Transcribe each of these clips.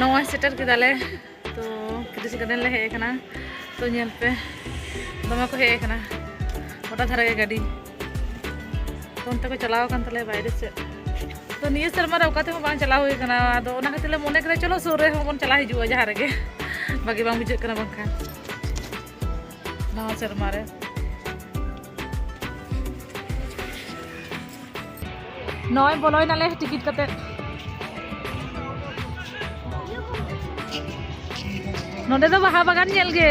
ᱱᱚᱜᱼᱚᱭ ᱥᱮᱴᱮᱨ ᱠᱮᱫᱟᱞᱮ ᱛᱚ ᱠᱤᱫᱩᱥ ᱜᱟᱨᱰᱮᱱ ᱞᱮ ᱦᱮᱡ ᱟᱠᱟᱱᱟ ᱛᱚ ᱧᱮᱞ ᱯᱮ ᱫᱚᱢᱮ ᱠᱚ ᱦᱮᱡ ᱟᱠᱟᱱᱟ ᱜᱚᱴᱟ ᱫᱷᱟᱨᱮ ᱜᱮ ᱜᱟᱹᱰᱤ ᱛᱚ ᱚᱱᱛᱮ ᱠᱚ ᱪᱟᱞᱟᱣ ᱟᱠᱟᱱ ᱛᱟᱞᱮᱭᱟ ᱵᱟᱭᱨᱮ ᱥᱮᱫ ᱛᱚ ᱱᱤᱭᱟᱹ ᱥᱮᱨᱢᱟ ᱨᱮ ᱚᱠᱟ ᱛᱮᱦᱚᱸ ᱵᱟᱝ ᱪᱟᱞᱟᱣ ᱦᱩᱭ ᱟᱠᱟᱱᱟ ᱟᱫᱚ ᱚᱱᱟ ᱠᱷᱟᱹᱛᱤᱨ ᱞᱮ ᱢᱚᱱᱮ ᱠᱮᱫᱟ ᱪᱚᱞᱚ ᱥᱩᱨ ᱨᱮᱦᱚᱸ ᱵᱚᱱ ᱪᱟᱞᱟᱣ ᱦᱤᱡᱩᱜᱼᱟ ᱡᱟᱦᱟᱸ ᱨᱮᱜᱮ ᱵᱷᱟᱜᱮ ᱵᱟᱝ ᱵᱩᱡᱷᱟᱹᱜ ᱠᱟᱱᱟ ᱵᱟᱝᱠᱷᱟᱱ ᱱᱟᱣᱟ ᱥᱮᱨᱢᱟ ᱨᱮ ᱱᱚᱜᱼᱚᱭ ᱵᱚᱞᱚᱭᱱᱟᱞᱮ ᱴᱤᱠᱤᱴ ᱠᱟᱛᱮᱫ ᱱᱚᱰᱮ ᱫᱚ ᱵᱟᱦᱟ ᱵᱟᱜᱟᱱ ᱧᱮᱞ ᱜᱮ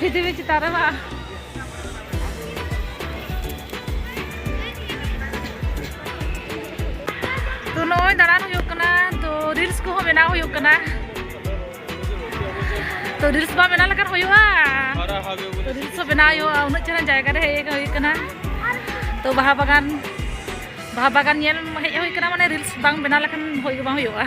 ᱵᱷᱤᱫᱤ ᱵᱷᱤᱫᱤ ᱪᱮᱛᱟᱱ ᱨᱮ ᱵᱟᱝ ᱛᱚ ᱱᱚᱜᱼᱚᱭ ᱫᱟᱬᱟᱱ ᱦᱩᱭᱩᱜ ᱠᱟᱱᱟ ᱛᱚ ᱨᱤᱞᱥ ᱠᱚᱦᱚᱸ ᱵᱮᱱᱟᱣ ᱦᱩᱭᱩᱜ ᱠᱟᱱᱟ ᱛᱚ ᱨᱤᱞᱥ ᱵᱟᱝ ᱵᱮᱱᱟᱣ ᱞᱮᱠᱷᱟᱱ ᱦᱩᱭᱩᱜᱼᱟ ᱛᱚ ᱨᱤᱞᱥ ᱦᱚᱸ ᱵᱮᱱᱟᱣ ᱦᱩᱭᱩᱜᱼᱟ ᱩᱱᱟᱹᱜ ᱪᱮᱦᱨᱟ ᱡᱟᱭᱜᱟ ᱨᱮ ᱦᱮᱡ ᱦᱩᱭ ᱠᱟᱱᱟ ᱛᱚ ᱵᱟᱦᱟ ᱵᱟᱜᱟᱱ ᱵᱟᱦᱟ ᱵᱟᱜᱟᱱ ᱧᱮᱞ ᱦᱮᱡ ᱦᱩᱭ ᱠᱟᱱᱟ ᱢᱟᱱᱮ ᱨᱤᱞᱥ ᱵᱟᱝ ᱵᱮᱱᱟᱣ ᱞᱮᱠᱷᱟᱱ ᱦᱩᱭ ᱜᱮ ᱵᱟᱝ ᱦᱩᱭᱩᱜᱼᱟ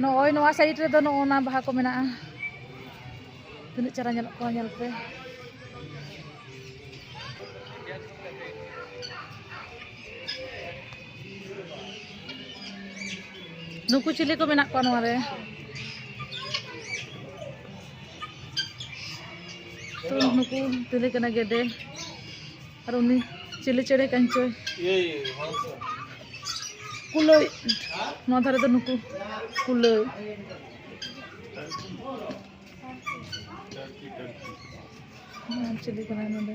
ᱱᱚᱜᱼᱚᱭ ᱱᱚᱣᱟ ᱥᱟᱭᱤᱰ ᱨᱮᱫᱚ ᱱᱚᱜᱼᱚ ᱱᱟ ᱵᱟᱦᱟ ᱠᱚ ᱢᱮᱱᱟᱜᱼᱟ ᱛᱤᱱᱟᱹᱜ ᱪᱮᱦᱨᱟ ᱧᱮᱞᱚᱜ ᱠᱟᱱᱟ ᱧᱮᱞ ᱯᱮ ᱱᱩᱠᱩ ᱪᱤᱞᱤ ᱠᱚ ᱢᱮᱱᱟᱜ ᱠᱚᱣᱟ ᱱᱚᱣᱟ ᱨᱮ ᱛᱚ ᱱᱩᱠᱩ ᱪᱤᱞᱤ ᱠᱟᱱᱟ ᱜᱮᱰᱮ ᱟᱨ ᱩᱱᱤ ᱪᱤᱞᱤ ᱪᱮᱬᱮ ᱠᱟᱱ ᱪᱚᱭ ᱠᱩᱞᱟᱹᱭ ᱱᱚᱣᱟ ᱫᱷᱟᱨᱮ ᱫᱚ ᱱᱩᱠᱩ ᱠᱩᱞᱟᱹᱭ ᱪᱤᱞᱤ ᱠᱟᱱᱟᱭ ᱱᱚᱰᱮ